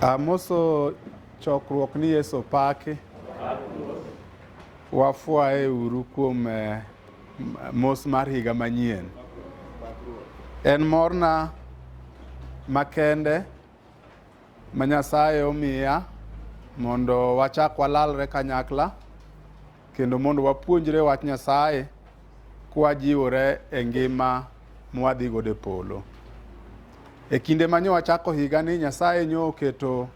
Amoso chokruok ni Yesu opaki. Wafwaye uru kuom eh, m- mos mar higa manyien. En morna makende ma Nyasaye omiya mondo wachak walalre kanyakla kendo mondo wapuonjre wach Nyasaye kwajiwore e ngima mwadhi godo e polo. E kinde ma nyo wachako higa ni Nyasaye nyo oketo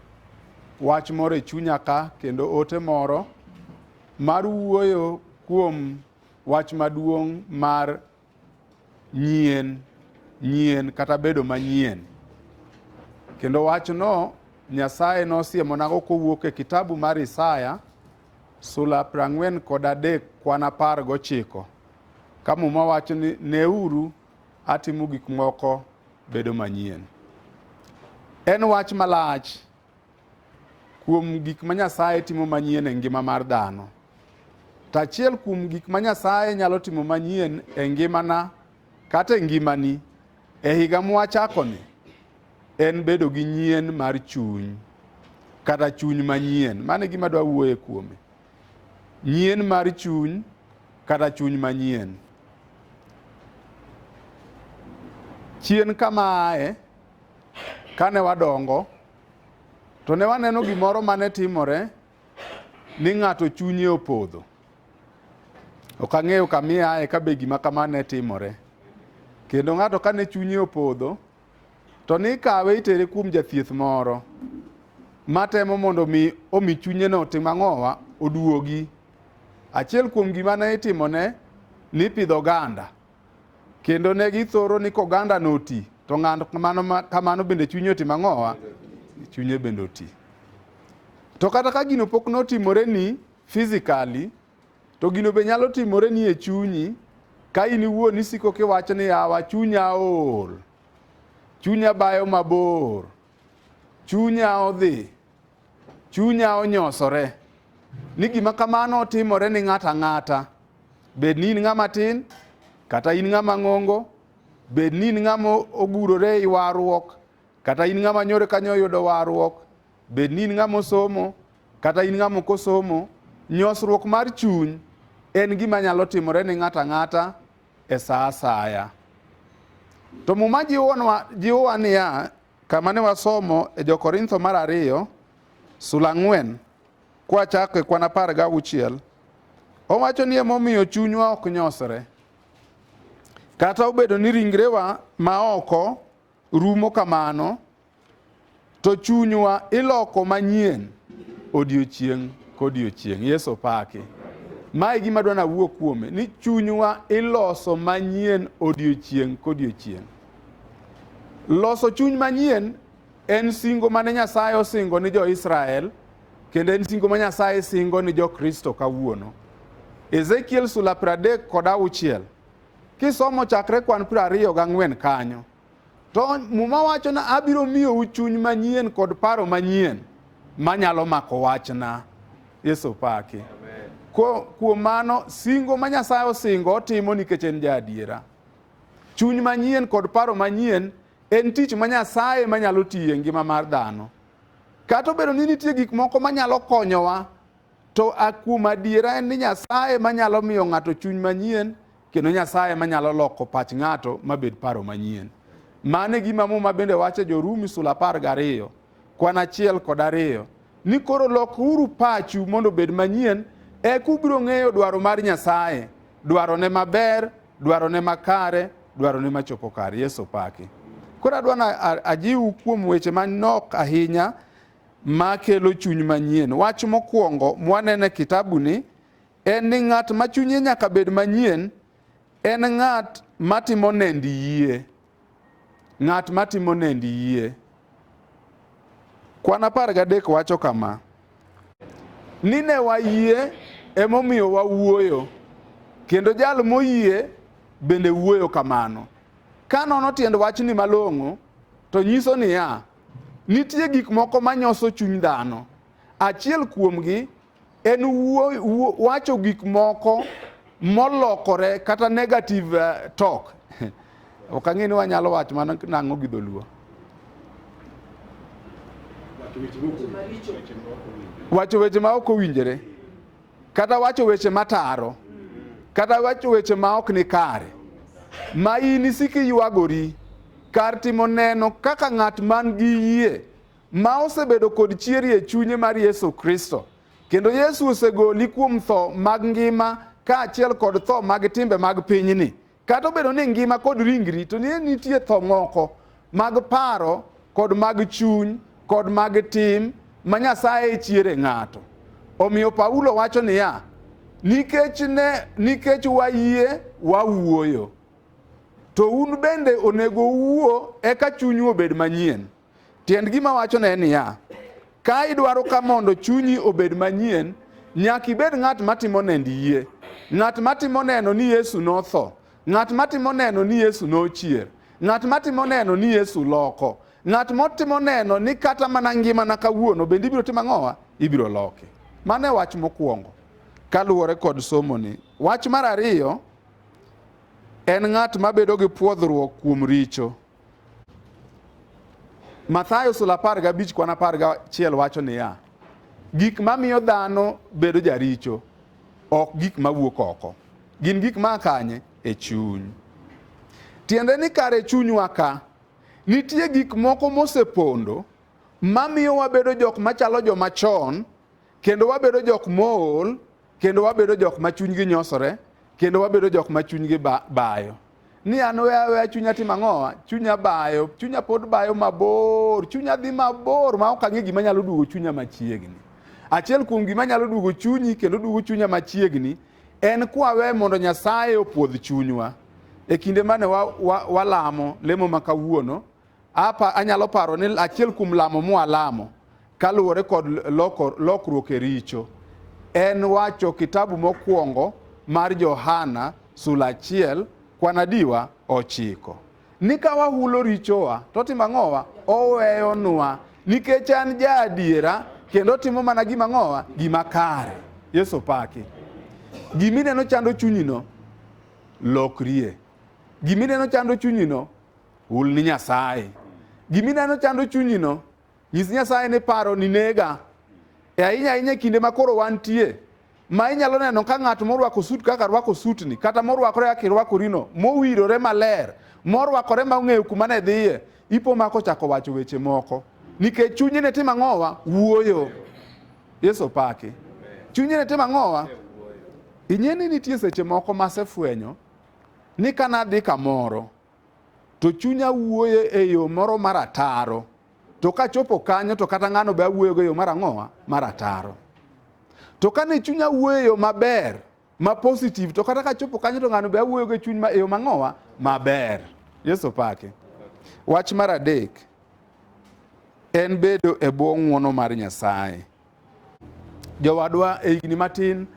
wach moro e chunya ka kendo ote moro mar wuoyo kuom wach maduong' mar nyien nyien kata bedo manyien kendo wachno nyasaye nosiemonago kowuok e kitabu mar isaya sula prang'wen kod adek kwan apar gochiko ka muma wacho ni neuru atimo gik moko bedo manyien en wach malach kuom gik ma Nyasaye timo manyien e ngima mar dhano. To achiel kuom gik ma Nyasaye nyalo timo manyien e ngimana kata e ngimani e higa mwachakoni en bedo gi nyien mar chuny kata chuny manyien. Mano e gima dwa wuoye kuome. Nyien mar chuny kata chuny manyien. Chien kamae Kane wadongo, to ne waneno gimoro mane timore ni ng'ato chunye opodho. Ok ang'eyo kamiaye ka be gima kama ne timore. Kendo ng'ato kane chunye opodho, to ni kawe itere kuom jathieth moro matemo mondo mi omi chunye no tim ang'owa oduogi. Achiel kuom gima ne itimone ni pidho oganda. Kendo ne githoro ni koganda noti, to ng'ato kamano ma- kamano bende chunye otimo ang'owa? Chunye bende oti. To kata ka gino pok notimoreni physically, to gino be nyalo timoreni e chunyi ka in iwuon isiko kiwacho ni yawa chunya ool, chunya bayo mabor, chunya odhi, Chunya onyosore ni gima kamano otimore ni ng'ato ang'ata, bed ni in ng'ama tin kata in ng'ama ng'ongo, bed ni in ng'ama ogurore i warruok kata in ng'ama nyore kanyo oyudo warruok, bed ni in ng'ama osomo kata in ng'ama ok osomo. Nyosruok mar chuny en gima nyalo timore ni ng'ato ang'ata e sa asaya. To Muma jiwonwa- jiwowa niya, Kama ne wasomo e Jo-Korintho mar ariyo sula ang'wen kwachako e kwan apar gauchiel, owacho ni emomiyo chunywa ok nyosre. Kata obedo ni ringrewa ma oko rumo kamano, to chunywa iloko manyien odiochieng' kodiochieng'. Yesu opaki. Mae gima dwa nawuo kuome ni chunywa iloso manyien odiochieng' kodiochieng'. Loso chuny manyien en singo mane Nyasaye osingo ni jo-Israel kendo en singo ma Nyasaye singo ni jo-Kristo kawuono. Ezekiel sula pradek kod auchiel kisomo chakre kwan prariyo gang'wen kanyo to muma wacho na abiro miyou chuny manyien kod paro manyien manyalo mako wachna. Yesu paki. Kuom mano singo ma Nyasaye osingo otimo nikech en ja adiera. Chuny manyien kod paro manyien en tich ma Nyasaye manyalo tiye ngima mar dhano. Kata obedo ni nitie gik moko manyalo konyowa, to kuom adiera en ni Nyasaye manyalo miyo ng'ato chuny manyien kendo Nyasaye manyalo loko pach ng'ato mabed paro manyien. Mano e gima Muma bende wacho e Jorumi sula apar gariyo kwan achiel kod ariyo ni koro lokuru pachu mondo obed manyien e kubiro ng'eyo dwaro mar nyasaye dwarone maber dwarone makare dwarone machopo kar yesu paki koro adwa na a- ajiwu kuom weche manok ahinya makelo chuny manyien wach mokwongo mwaneno e kitabuni en ni ng'at ma chunye nyaka bed manyien en ng'at matimo nend yie Ng'at ma timo nendi yie. Kwan apar gadek wacho kama, Ni ne wayie emomiyo wawuoyo, kendo jal moyie bende wuoyo kamano. Ka nono tiend wachni malong'o, to nyiso niya, nitie gik moko manyoso chuny dhano. Achiel kuomgi En wuo, wuo, wacho gik moko molokore kata negative uh, talk. ok ang'e ni wanyalo wacho mana nang'o gi dholuo. Wacho weche ma ok owinjore. Kata wacho weche mataro. Kata wacho weche ma ok ni kare. Ma in isiki ywagori kar timo neno kaka ng'at man gi yie ma osebedo kod chieri e chunye mar Yesu Kristo. Kendo Yesu osegoli kuom tho mag ngima kaachiel kod tho mag timbe mag pinyni. Kata obedo ni ngima kod ringri to nie nitie tho moko mag paro kod mag chuny kod mag tim ma Nyasaye chiere ng'ato. Omiyo Paulo wacho niya, nikech ne nikech wayie wawuoyo to un bende onego uwuo eka chunyu obed manyien Tiend gima wachone en niya, ka idwaro ka mondo chunyi obed manyien, nyaka ibed ng'at matimo nend yie, ng'at matimo neno ni Yesu notho, ng'at matimo neno ni Yesu nochier, ng'at matimo neno ni Yesu loko, ng'at motimo neno ni kata mana ngimana kawuono bende ibiro timo ang'owa, ibiro loki. Mano e wach mokwongo kaluwore kod somoni. Wach mar ariyo en ng'at mabedo gi pwodhruok kuom richo. Mathayo sula apar gabich kwan apar gachiel wacho niya, gik mamiyo dhano bedo jaricho ok gik mawuok oko, gin gik ma kanye e chuny. Tiende ni kare chunywa ka nitie gik moko mosepondo mamiyo wabedo jok machalo joma chon kendo wabedo jok mool kendo wabedo jok ma chunygi nyosore kendo wabedo jok ma chunygi bayo ni an we aweya chunya timo ang'owa chunya bayo chunya pod bayo mabor chunya dhi mabor ma ok ang'e gima nyalo duogo chunya machiegni achiel kuom gima nyalo duogo chunyi kendo duogo chunya machiegni en kwawe mondo nyasaye opuodh chunywa e kinde mane walamo wa, wa lemo ma kawuono Apa anyalo paro ni achiel kuom lamo mwalamo kaluwore kod loko, lokruok e richo en wacho kitabu mokwongo mar Johana sula achiel kwanadiwa ochiko ni ka wahulo richowa to timo ang'owa oweyonwa nikech an ja adiera kendo timo mana gima ng'owa gima kare yesu paki gimineno chando chunyino lokrie gimineno chando chunyino Hul ni Nyasaye. Gima ineno chando chunyino, nyis Nyasaye ni paro ni nega. E ahinya ahinya e kinde ma koro wantie, ma inyalo neno ka ng'at morwako sut kaka rwako sutni, kata morwakore kaka irwakorino, mowirore maler, morwakore ma ong'eyo kuma ne dhiye, ipo ma kochako wacho weche moko. Nikech chunye ne timo ang'owa? Wuoyo. Yesu opaki. Chunye ne timo ang'owa? Ing'e ni nitie seche moko masefwenyo ni kanadhi kamoro to chunya wuoye e yo moro mar ataro to kachopo kanyo to kata ng'ano be awuoyogo e yo mar ang'owa mar ataro to kane chunya wuoyo e yo maber ma positive to kata kachopo kanyo to ng'ano be awuoyogo e chuny e yo mang'owa maber yesu pake wach mar adek en bedo e bwo ng'wono mar nyasaye Jowadwa, e higni matin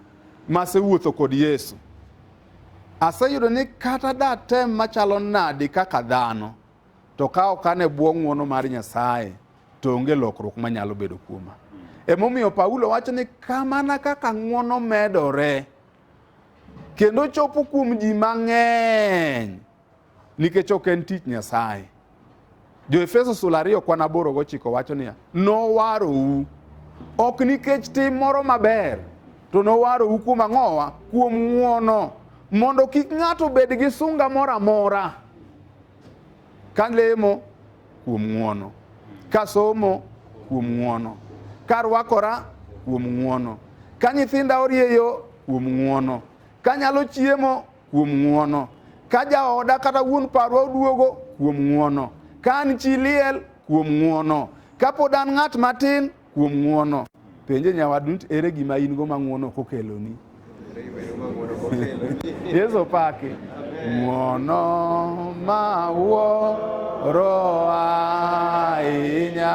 masewuotho kod Yesu, aseyudo ni kata datem machalo nadi kaka dhano, to ka ok an e bwo ng'wono mar Nyasaye, to onge lokruok manyalo bedo kuoma. Emomiyo Paulo wacho ni kamana kaka ng'wono medore kendo chopo kuom ji mang'eny, nikech ok en tich Nyasaye. Jo-Efeso sula ariyo kwan aboro gochiko wacho niya, nowarou ok nikech tim moro maber, to nowarou kuom ang'owa? Kuom ng'wono, mondo kik ng'ato bed gi sunga moro amora ka lemo kuom ng'wono, ka somo kuom ng'wono, ka rwakora kuom ng'wono, ka nyithinda orieyo kuom ng'wono, ka nyalo chiemo kuom ng'uono. Ka jaoda kata wuon parwa oduogo, kuom ng'uono. Ka an chi liel, kuom ng'uono. Ka pod an ng'at matin, kuom ng'uono. Penje nyawadu, ere gima in go ma ng'uono ok okeloni? Yesu paki. Ng'uono ma wuoro ahinya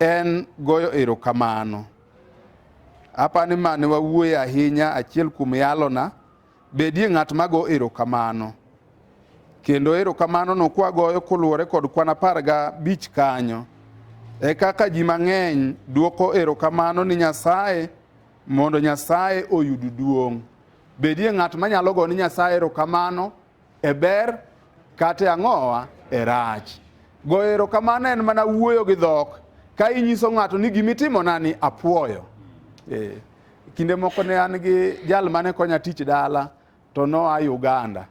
en goyo erokamano. Apa ni mane wawuoye ahinya achiel kuom yalona, bedie ng'at ma go erokamano. Kendo erokamano no kwagoyo koluwore kod kwan apar gabich kanyo. E kaka ji mang'eny dwoko erokamano ni Nyasaye mondo Nyasaye oyud duong'. Bedie ng'at manyalo go ni Nyasaye erokamano e ber kata e ang'owa e rach. Goyo erokamano en mana wuoyo gi dhok ka inyiso ng'ato ni gimitimona ni apwoyo. Eh, kinde moko ne an gi jal mane konya tich dala to noa Uganda.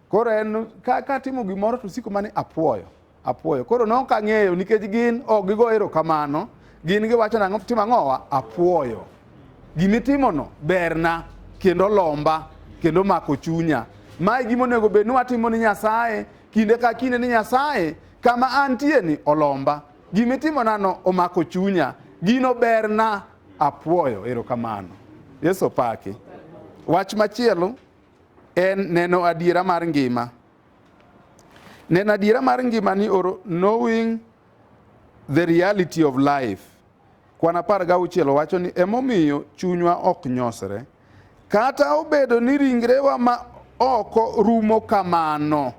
Koro en ka, ka timo gimoro to siko mani apwoyo. Apuoyo. Koro ne ok ang'eyo nikech gin ok gigo erokamano, gin giwacho nang'o timo ang'owa? Apuoyo. Gimitimono berna kendo lomba kendo mako chunya. Mae gima onego bed ni watimo ni Nyasaye kinde ka kinde ni Nyasaye kama antie ni olomba. Gimitimonano omako chunya, gino berna apuoyo. Erokamano. Yesu opaki. Wach machielo en neno adiera mar ngima. Neno adiera mar ngima ni oro knowing the reality of life. Kwan apar ga auchiel wacho ni emomiyo chunywa ok nyosre. Kata obedo ni ringrewa ma oko rumo kamano,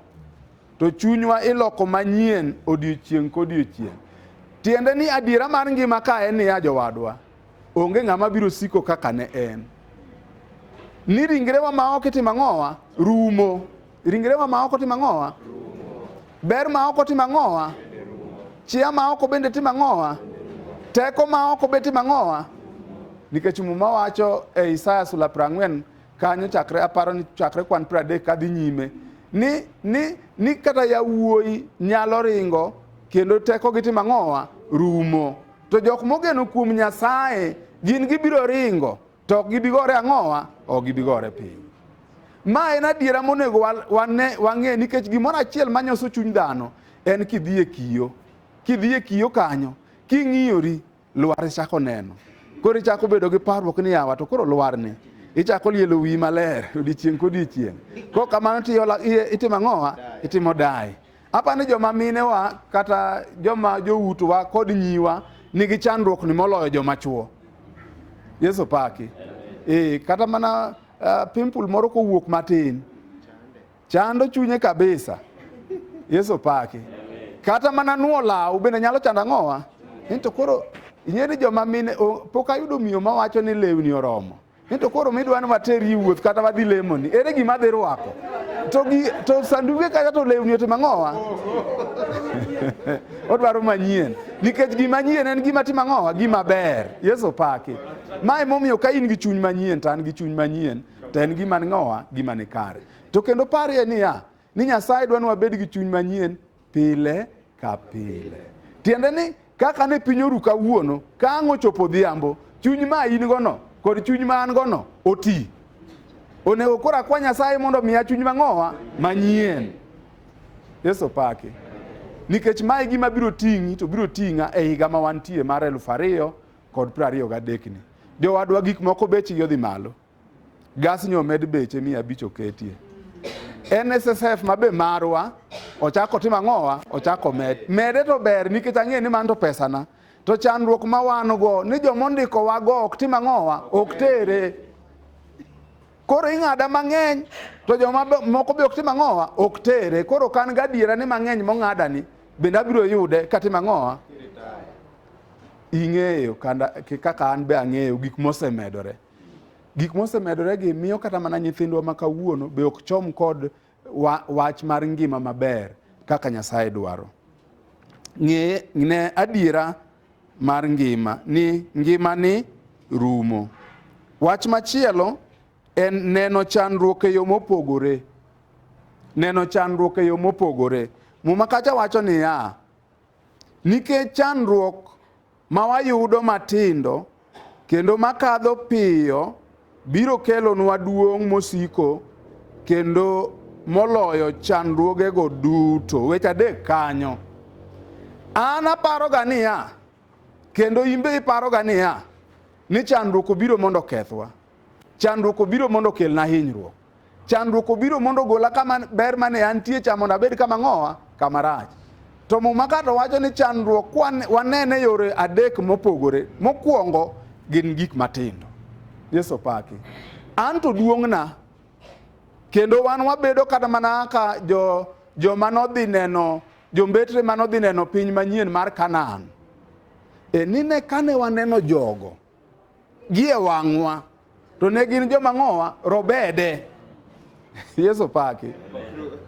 to chunywa iloko manyien odiochieng' kodiochieng'. Tiende ni adiera mar ngima ka en niya jowadwa, Onge ng'ama biro siko kaka ne en. Ni ringrewa ma ok itimo ang'owa rumo. Ringrewa ma ok otimo ang'owa. Ber ma ok otimo ang'owa. Chia ma ok bende timo ang'owa. Teko ma ok be timo ang'owa. Nikech muma wacho e Isaya sula prang'wen kanyo chakre aparo ni chakre kwan pradek kadhi nyime ni, ni, ni kata yawuoyi nyalo ringo kendo teko gi timo ang'owa rumo. To jok mogeno kuom Nyasaye gin gibiro ringo to ok gibi gore ang'owa, ok gibi gore piny. Ma en adiera monego wang'e nikech gimoro achiel manyoso chuny dhano en kidhi e kiyo. Kidhi e kiyo kanyo, king'iyori, lwar ichako neno. Koro ichako bedo gi parruok ni yawa to koro lwar ni ichako lielo wiyi maler odiechieng' kodiechieng'. Kok kamano itimo ang'owa, itimo dai. Apa ni joma minewa kata joma joutwa kod nyiwa nigi chandruok ni moloyo joma chuo. Yesu paki. E, kata mana uh, pimple moro kowuok matin chando chunye kabisa. Yesu paki. Kata mana nuo law bende nyalo chando ang'owa. Ento koro ing'e ni joma mine pok ayudo miyo mawacho ni lewni oromo. ni to koro midwa ni wateri wuoth kata wadhi lemoni ere gima dhi rwako to, gi, to sanduge kata to lewni ote mang'owa odwaro manyien nikech gima nyien en gima timo ang'owa gima ber yesu paki ma emomiyo ka in gi chuny manyien to an gi chuny manyien to en gima ng'owa gima ni kare to kendo parie niya ni nyasaye dwa ni wabed gi chuny manyien pile ka pile. Tiende ni kaka ne piny oru kawuono, ka ang' ochopo odhiambo, chuny ma in gono kod chuny ma an gono oti. Onego koro akwa Nyasaye mondo omiya chuny mang'owa manyien. Yesu paki. Nikech mae gima biro ting'i to biro ting'a e higa ma wantie mar elfu ariyo kod piero ariyo gadekni. Jowadwa gik moko bechgi odhi malo. Gasni omed beche mia abich oketie. NSSF ma be marwa ochako timo ang'owa ochako med mede to ber nikech ang'e ni man to pesana to chandruok ma wan go ni joma ondiko wa go ok tim ang'owa ok tere koro ing'ada mang'eny to joma moko be ok tim ang'owa ok tere koro kan gadiera ni mang'eny mong'ada ni bende abiro yude katim ang'owa ing'eyo kaka an be ang'eyo gik mosemedore Gik mosemedoregi miyo kata mana nyithindwa ma kawuono be ok chom kod wa, wach mar ngima maber kaka Nyasaye dwaro. Ng'e ne adiera mar ngima ni ngima ni rumo. Wach machielo en neno chandruok e yo mopogore. Neno chandruok e yo mopogore. Muma kacha wacho niya, nikech chandruok ma wayudo matindo kendo makadho piyo biro kelonwa duong' mosiko kendo moloyo chandruogego duto. Weche adek kanyo. An aparoga niya, kendo in be iparoga niya, ni chandruok obiro mondo okethwa. Chandruok obiro mondo okelna hinyruok. Chandruok obiro mondo ogola kama ber mane antie cha mondo abed kama ng'owa kama rach. To Muma kato wacho ni chandruok wanene yore adek mopogore. Mokwongo gin gik matindo. Yesu paki. An to duong'na kendo wan wabedo kata mana ka jo joma nodhi neno jombetre ma nodhi neno piny manyien mar Kanaan. E nine kane waneno jogo Gie wang'wa to ne gin joma ng'owa robede. Yesu paki.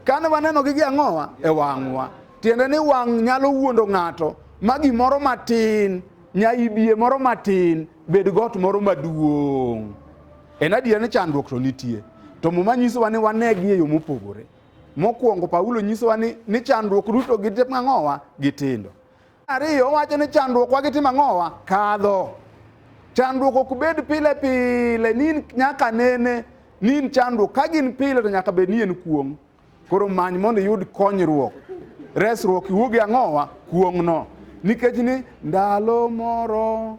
Kane wanenogi gi ang'owa e wang'wa, tiende ni wang' nyalo wuondo ng'ato ma gimoro matin, nyaibie moro matin, bed got moro maduong'. En adier ni chandruok to nitie, to Muma nyisowa ni wanegi e yo mopogore. Mokwongo Paulo nyisowa ni, ni chandruok duto gi ang'owa gitindo. Ariyo, owacho ni chandruok wagi timo ang'owa? Kadho. Chandruok ok bed pile pile, ni nyaka nene, ni chandruok. Ka gin pile to nyaka bed ni en kuong'. Koro many mondo iyud konyruok. Resruok iwuogi ang'owa? Kuong'no. Nikech ni ndalo moro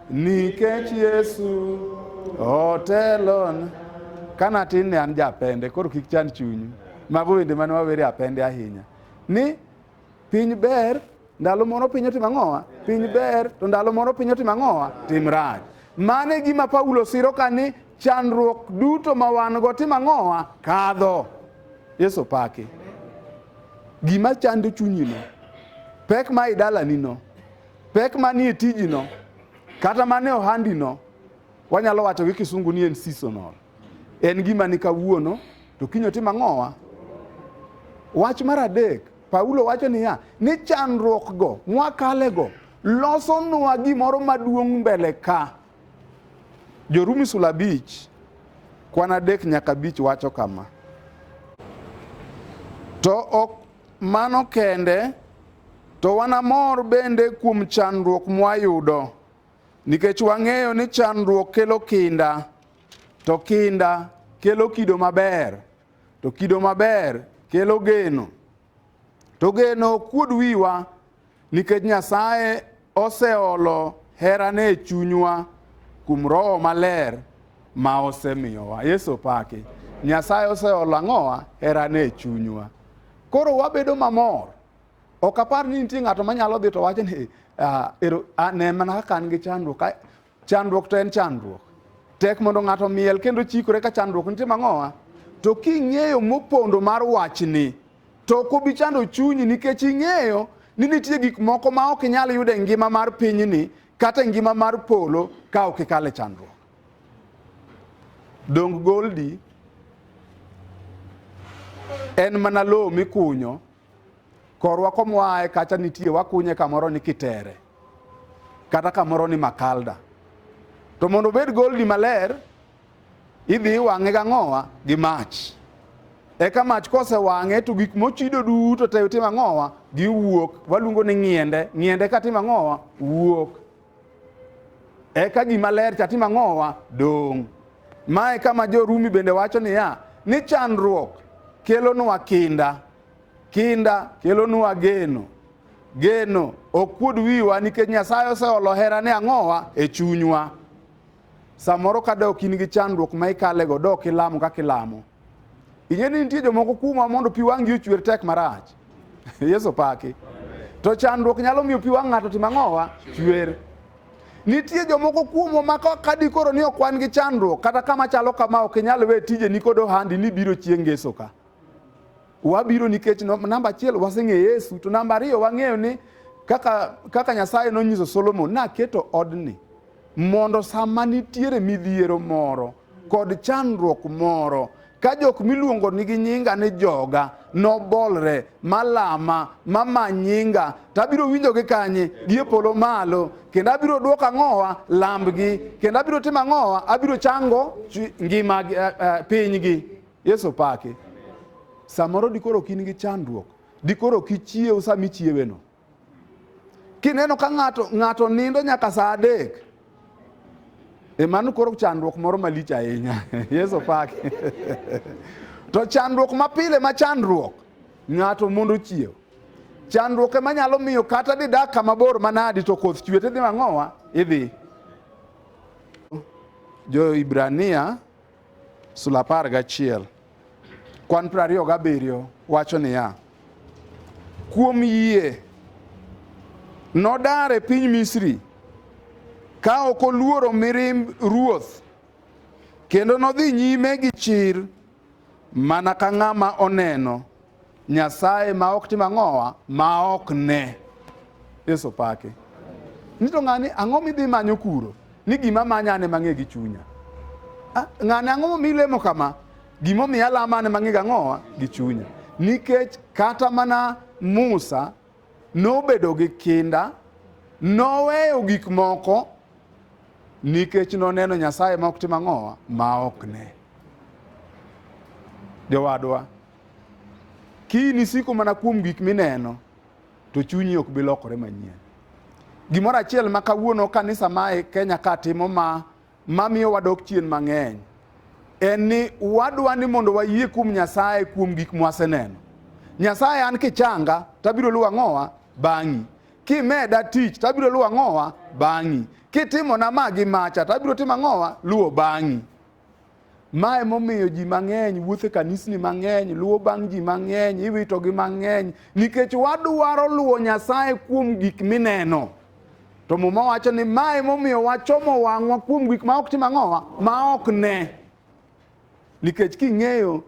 Nikech Yesu otelon. Kana tin ne an japende, koro kik chan chunyu. Mago wende mane wawere apende ahinya. Ni piny ber, ndalo moro piny otimo ang'owa? Piny ber, to ndalo moro piny otimo ang'owa? Tim rach. Mano e gima Paulo siro ka ni chandruok duto ma wan go tim ang'owa? Kadho. Yesu paki. Gima chando chunyino, pek ma idalanino, Pek manie tijino kata mane ohandino wanyalo wacho gi kisungu ni en seasonal. En gima ni kawuono to kiny otim ang'owa. Wach mar adek, Paulo wacho niya, ni chandruokgo mwakalego losonwa gimoro maduong' mbele ka. Jorumi sula abich kwan adek nyaka abich wacho kama. To ok Mano kende, to wanamor bende kuom chandruok mwayudo, nikech wang'eyo ni chandruok kelo kinda, to kinda kelo kido maber, to kido maber kelo geno, to geno ok kuod wiwa, Nikech Nyasaye oseolo herane e chunywa kuom Roho Maler ma osemiyowa. Yesu opaki. Nyasaye oseolo ang'owa herane e chunywa. Koro wabedo mamor. Ok apar ni nitie ng'ato manyalo dhi to wacho ni ah, ero, ah, ne mana kaka an gi chandruok. Ka- Chandruok to en chandruok. Tek mondo ng'ato miel kendo chikore ka chandruok nitie mang'owa. To king'eyo mopondo mar wachni, to ok obi chando chunyi nikech ing'eyo ni nitie gik moko ma ok inyal yudo e ngima mar pinyni kata e ngima mar polo ka ok ikale chandruok. Dong goldi en mana lowo mikunyo korwa komoaye kacha nitie wakunye kamoro ni kitere kata kamoro ni makalda to mondo obed goldi maler idhi iwang'e gang'owa gi mach eka mach kosewang'e to gik mochido duto te timo ang'owa giwuok waluongo ni ng'iende ng'iende ka timo ang'owa wuok eka gima ler cha timo ang'owa dong' mae kama jorumi bende wacho niya ni chandruok kelonwa kinda Kinda kelonwa geno. Geno ok kuod wiwa nikech Nyasaye oseolo herane ang'owa e chunywa. Samoro ka dok in gi chandruok ma ikalego, dok ilamo kaka ilamo. Ing'e ni nitie jomoko kuomwa mondo pi wang'gi ochwer tek marach. Yesu paki. To chandruok nyalo miyo pi wang' ng'ato tim ang'owa? Chwer. Nitie jomoko kuomwa ma ka dikoro ni ok wan gi chandruok, kata kama chalo kama ok inyal we tijeni kod ohandi ni biro chieng' ngeso ka. Wabiro nikech namba achiel waseng'e Yesu, to namba ariyo wang'eyo ni kaka, kaka Nyasaye nonyiso Solomon, naketo odni mondo sama nitiere midhiero moro kod chandruok moro ka jok miluongo nigi nyinga ni joga nobolre malama mama nyinga to abiro winjogi kanye gi e polo malo kendo abiro dwoko ang'owa lambgi kendo abiro timo ang'owa abiro chango ngima eh, eh, pinygi Yesu paki. Samoro dikoro ok in gi chandruok, dikoro ok ichiew sama ichieweno. Kineno ka ng'ato ng'ato nindo nyaka saa adek, e mano koro chandruok moro malich ahinya. Yesu paki. to chandruok mapile ma chandruok ng'ato mondo ochiew chandruok ema nyalo miyo kata didak kama bor manadi to koth chwe tidhi mang'owa idhi jo ibrania Sula apar gachiel kwan piero ariyo gabiriyo wacho niya, kuom yie nodar e piny Misri ka ok oluoro mirimb ruoth kendo nodhi nyime gi chir mana ka ng'ama oneno Nyasaye ma ok tim ang'owa ma ok ne. Yesu pake. Nito ng'ani ang'o midhi manyo kuro? Ni gima manya ane mang'e gi chunya. Ah, ng'ani ang'o momi lemo kama? Gima omiyo alama ane mang'e gang'owa gi chunya. Nikech kata mana Musa nobedo gi kinda, noweyo gik moko nikech noneno Nyasaye ma ok tim ang'owa ma ok ne. Jowadwa, Kiyini isiko mana kuom gik mineno to chunyi ok bi lokore manyien. Gimoro achiel ma kawuono kanisa ma e Kenya ka timo ma mamiyo wadok chien mang'eny en ni wadwa ni mondo wayie kuom Nyasaye kuom gik mwaseneno. Nyasaye an kichanga tabiro luwa ng'owa bang'i. Kimeda tich tabiro luwa ng'owa bang'i. Kitimona ma gi macha tabiro timo ang'owa luwo bang'i. Ma emomiyo ji mang'eny wuotho e kanisni mang'eny, luwo bang' ji mang'eny, iwitogi mang'eny, nikech wadwaro luwo Nyasaye kuom gik mineno. To Muma wacho ni ma emomiyo wachomo wang'wa kuom gik ma ok tim ang'owa, ma ok ne. Nikech king'eyo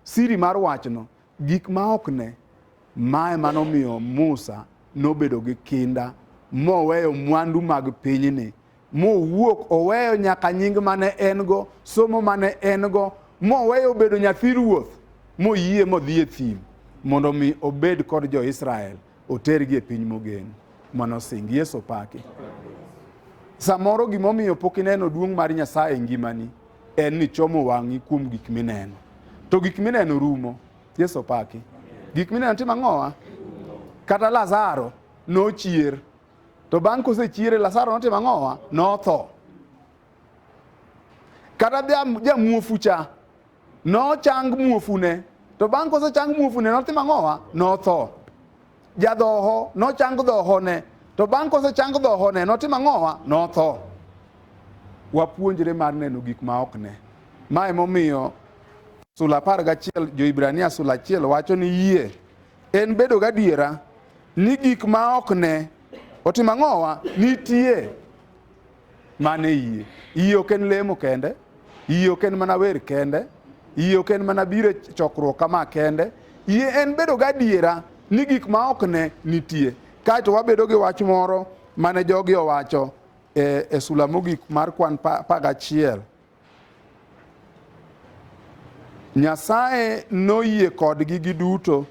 Siri mar wachno, gik ma ok ne, ma ema nomiyo Musa nobedo gi kinda moweyo mwandu mag pinyni, mowuok oweyo nyaka nying mane en go, somo mane en go, moweyo obedo nyathi ruoth, moyie modhi e thim mondo mi obed kod jo-Israel otergi e piny mogen manosing. Yesu paki. Samoro gimomiyo pok ineno duong' mar Nyasaye e ngimani en ni chomo wang'i kuom gik mineno to gik mineno rumo yesu opaki gik mineno timo ang'owa kata lazaro nochier to bang' kosechiere lazaro notimo ang'owa notho kata ja- jamuofu cha nochang muofune to bang' kosechang muofune notimo ang'owa notho Jadhoho nochang dhohone, to bang' kosechang dhohone notim ang'owa? Notho. Wapuonjre mar neno gik ma ok ne. Ma emomiyo sula apar gachiel Joibrania sula achiel wacho ni yie en bedo gadiera ni gik ma ok ne otim ang'owa nitie Man e yie. Yie ok en lemo kende, yie ok en mana wer kende, yie ok en mana biro e chokruok kama kende, yie en bedo gadiera ni gik ma ok ne nitie. Kaeto wabedo gi wach moro mane jogi owacho e, e sula mogik mar kwan pa, pa gachiel. Nyasaye noyie kodgi giduto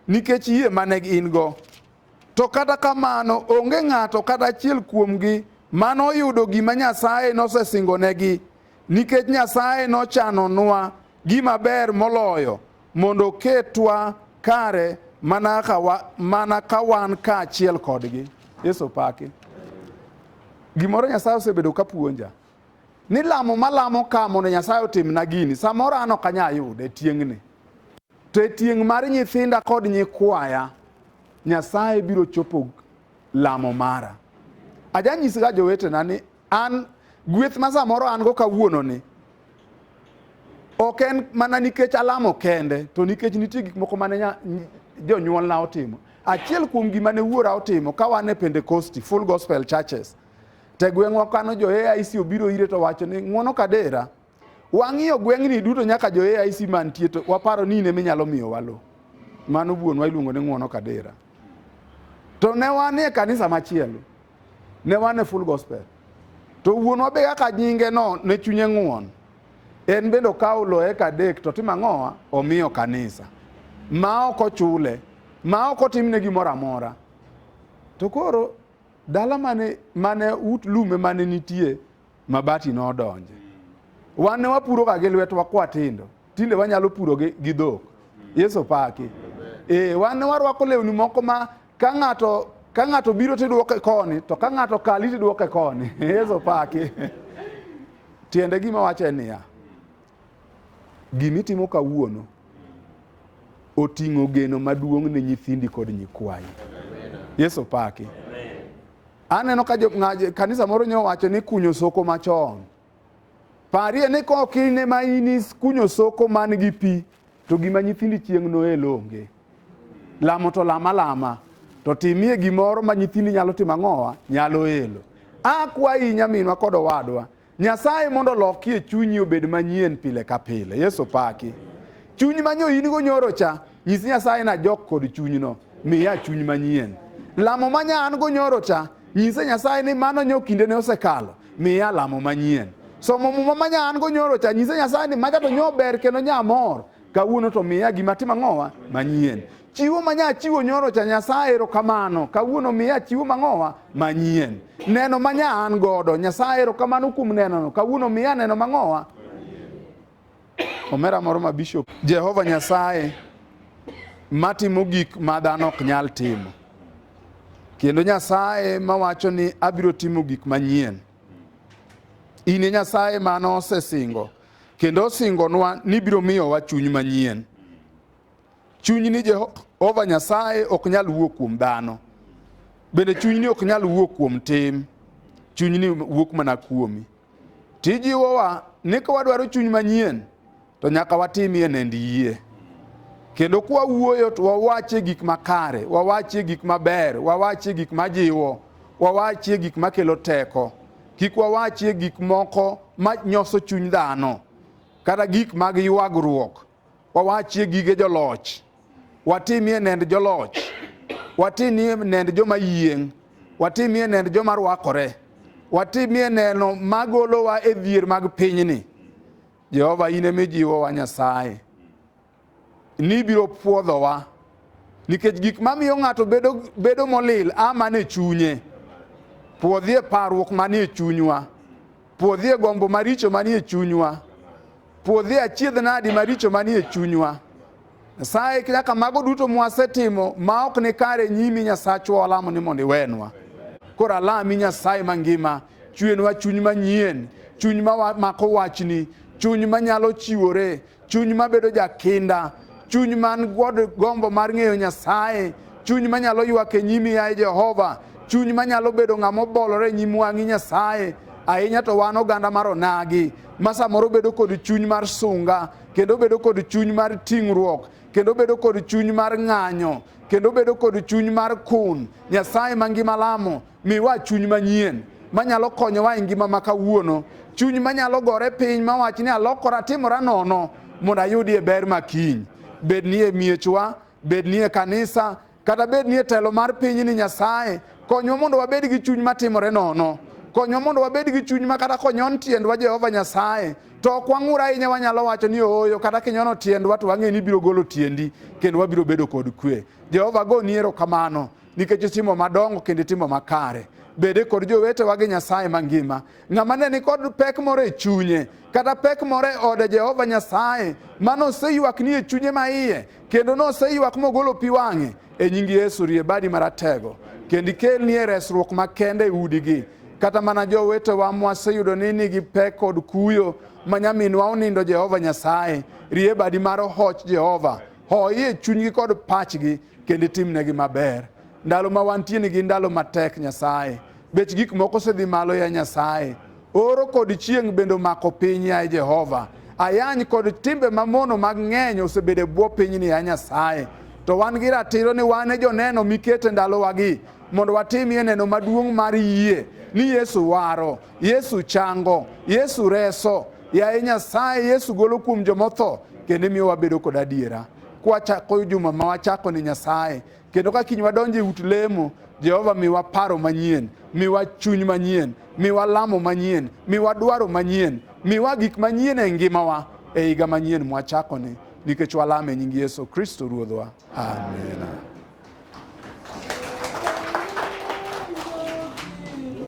Nikech yie ma ne gin-go. To kata kamano, onge ng'ato kata achiel kuomgi mano oyudo gima Nyasaye nosesingonegi, nikech Nyasaye nochanonwa gima ber moloyo mondo oketwa kare mana ka wa- mana ka wan kaachiel kodgi. Yesu opaki. Gimoro Nyasaye osebedo ka puonja. Ni lamo malamo ka mondo Nyasaye otimna gini, samoro an ok anyal yude tieng'ni. To e tieng' mar nyithinda kod nyikwaya, Nyasaye biro chopo lamo mara. Ajanyisga jowetena ni an gweth ma samoro an go kawuononi ok en mana nikech alamo kende to nikech nitie gik moko mane jonyuolna otimo achiel kuom gima ne wuora otimo ka wan e pentekosti full gospel churches Te gweng'wa kano jo AIC obiro ire to wacho ni ng'wono kadera. Wang'iyo gweng'ni duto nyaka jo AIC mantie to waparo ni in ema inyalo miyowa lowo. Mano wuonwa iluongo ni ng'wono kadera. To ne wan e kanisa machielo, ne wan e full gospel. To wuonwa be kaka nyinge no ne chunye ng'won, en bende okawo lowo eka adek to timo ang'owa? Omiyo kanisa. Ma ok ochule, ma ok otimne gimoro amora. To koro Dala mane mane ut lume mane nitie mabati nodonje. Wan ne wapuro ga gi lwetwa kwa tindo. Tinde wanyalo puro gi, gi dhok. Yesu paki. Eh, wan ne warwako lewni moko ma ka ng'ato ka ng'ato biro tidwoke koni to ka ng'ato kali tidwoke koni. Yesu paki. Tiende gima wacho en niya, Gima itimo kawuono oting'o geno maduong' ne nyithindi kod nyikwayi. Yesu paki. Aneno ka kanisa moro nyo wacho ni kunyo soko machon. Parie ni kok in ema in kunyo soko man gi pi to gima nyithindi chieng' noel onge. Lamo to lama lama to timie gimoro ma nyithindi nyalo timo ang'owa nyalo elo. Akwayi nyaminwa kod owadwa Nyasaye mondo olokie chunyi obed manyien pile ka pile. Yesu paki. Chuny ma nyo in-go nyoro cha, nyis Nyasaye na jok kod chunyno, miya chuny manyien. Lamo ma nya an-go nyoro cha, nyise Nyasaye ni mano nyo kindene osekalo, miya lamo manyien. Somo muma ma nya an-go nyoro cha, nyise Nyasaye ni macha to nyo ber kendo nya amor, kawuono to miya gima timo ang'owa manyien. Chiwo ma nya chiwo nyoro cha Nyasaye erokamano. Kawuono miya chiwo mang'owa manyien. Neno ma nya an godo Nyasaye erokamano kuom nenono. Kawuono miya neno mang'owa. Omera moro ma bishop. Jehova Nyasaye matimo gik ma dhano ok nyal timo. Kendo Nyasaye mawacho ni abiro timo gik manyien. In e Nyasaye mano osesingo kendo osingonwa ni biro miyowa chuny manyien. Chuny ni Jehova Nyasaye ok nyal wuok kuom dhano, bende chuny ni ok nyal wuok kuom tim, chuny ni wuok mana kuomi. Tijiwowa ni ka wadwaro chuny manyien to nyaka watimie nend yie kendo kwa wuoyo to wawachie gik makare, wawachie gik maber, wawachie gik majiwo, wawachie gik makelo teko. Kik wawachie gik moko manyoso chuny dhano kata gik mag ywagruok wawachie gige joloch watimie nend joloch watimie nend joma yieng' watimie nend joma rwakore watimie neno magolowa e dhier mag pinyni jehova in ema ijiwowa nyasaye nibiro pwodhowa nikech gik mamiyo ng'ato bedo, bedo molil a mane chunye puodhie parruok manie chunywa Puodhie gombo maricho manie chunywa. Puodhie achiedh nadi maricho manie chunywa. Nyasaye nyaka mago duto mwasetimo ma ok ni kare nyimi Nyasachwa walamo ni mondo iwenwa. Koro alami Nyasaye mangima, chwenwa chuny manyien, chuny ma mako wachni, chuny manyalo chiwore, chuny mabedo jakinda, chuny man kod gombo mar ng'eyo Nyasaye, chuny manyalo ywak e nyimi yaye Jehova, chuny manyalo bedo ng'ama obolore e nyim wang'i Nyasaye, ahinya to wan oganda mar onagi ma samoro bedo kod chuny mar sunga kendo bedo kod chuny mar ting'ruok kendo bedo kod chuny mar ng'anyo kendo bedo kod chuny mar kun nyasaye mangima lamo Miwa chuny manyien manyalo konyowa e ngima ma kawuono, chuny manyalo gore piny mawach ni alokora timora nono mondo ayudie ber ma kiny, bed ni e miechwa, bed ni e kanisa, kata bed ni e telo mar piny ni Nyasaye, konywa mondo wabed gi chuny matimore nono. Konywa mondo wabed gi chuny ma kata konyon tiendwa Jehova Nyasaye, to ok wang'ur ahinya wanyalo wacho ni ooyo, kata kinyono tiendwa to wang'e ni ibiro golo tiendi kendo wabiro bedo kod kwe. Jehova goni erokamano. nikech itimo madongo kendo itimo makare bede kod jowetewa gi nyasaye mangima ng'ama ne nikod pek moro e chunye kata pek moro e ode jehova nyasaye ma noseywak ni e chunye ma iye kendo noseywak mogolo pi wang'e e nying yesu rie badi maratego kendo ikelnie resruok makende e udigi kata mana jowetewa mwaseyudo ni nigi pek kod kuyo ma nyaminwa onindo jehova nyasaye rie badi mar hoch jehova hoye chunygi kod pachgi kendo itimnegi maber. Ndalo ma wantie ni gin ndalo matek Nyasaye. Bech gik moko osedhi malo ya Nyasaye. Oro kod chieng' bende omako piny ya Jehova. Ayany kod timbe mamono mag ng'eny osebedo e bwo pinyni ya Nyasaye. To wan gi ratiro ni wan e joneno mikete ndalowagi mondo watimie neno maduong' mar yie ni Yesu waro, Yesu chango, Yesu reso. Yaye Nyasaye, Yesu golo kuom jomotho kendo imiyo wabedo kod adiera. kwachako juma ma wachako ni Nyasaye kendo ka kiny wadonjo e ut lemo Jehova miwa paro manyien, miwa chuny manyien, miwa lamo manyien, miwa dwaro manyien, miwa gik manyien e ngimawa e higa manyien mwachakoni nikech walame e nying Yesu Kristo Ruodhwa. Amina.